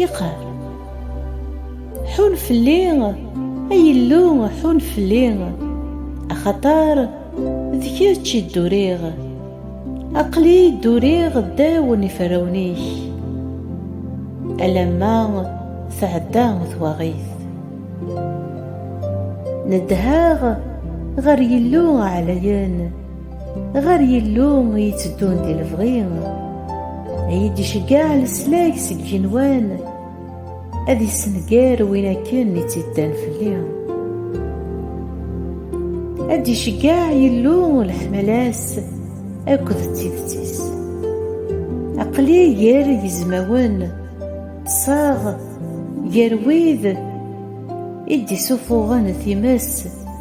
Yeqqar. Ḥun fell-i, ay Illu, ḥun fell-i, axaṭer d kečč i dduriɣ. Aql-i dduriɣ ddaw n iferrawen-ik, alamma tɛedda twaɣit. Neddheɣ ɣer Yillu ɛlayen. Ɣer Yillu i yetteddun di lebɣi, ay d-iceggeɛ leslag seg yigenwan, ad yessenger win akken i tt-iddan fell-i. Ad d-iceggeɛ Yillu leḥmala-s akked d tidet-is. Aql-i gar yizmawen, ṭṭseɣ gar wid i d-isufuɣen times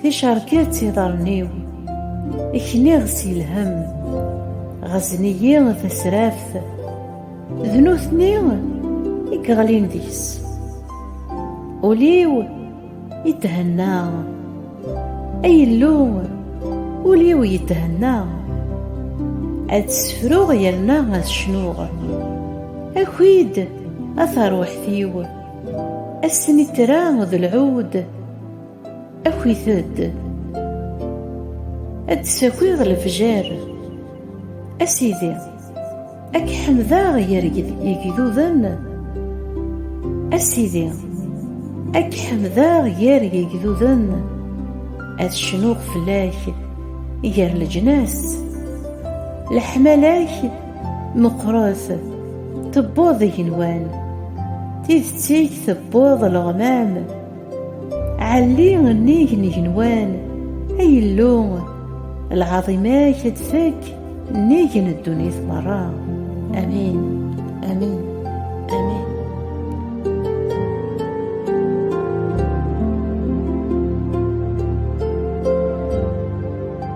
Ticerket iḍarren-iw, ekniɣ si lhem, ɣazen-iyi tasraft, d nutni i yeɣlin deg-s. Ul-iw yethenna, ay Illu, ul-iw yethenna, ad sefruɣ yerna ad cnuɣ. Aki-d, a taruḥt-iw, ass n ittra d lɛud, Akit-d ad d-sakiɣ lefjer a sidi a k-ḥemdeɣ gar yegduden a sidi a k-ḥemdeɣ gar yegduden ad cnuɣ fell-ak gar leǧnas leḥmala-k meqqret tewweḍ igenwan tidet-ik tewweḍ leɣmam Ɛelli nnig n igenwan, ay Illu, lɛaḍima-k ad tfakk nnig n ddunit merra. Amin, amin, amin.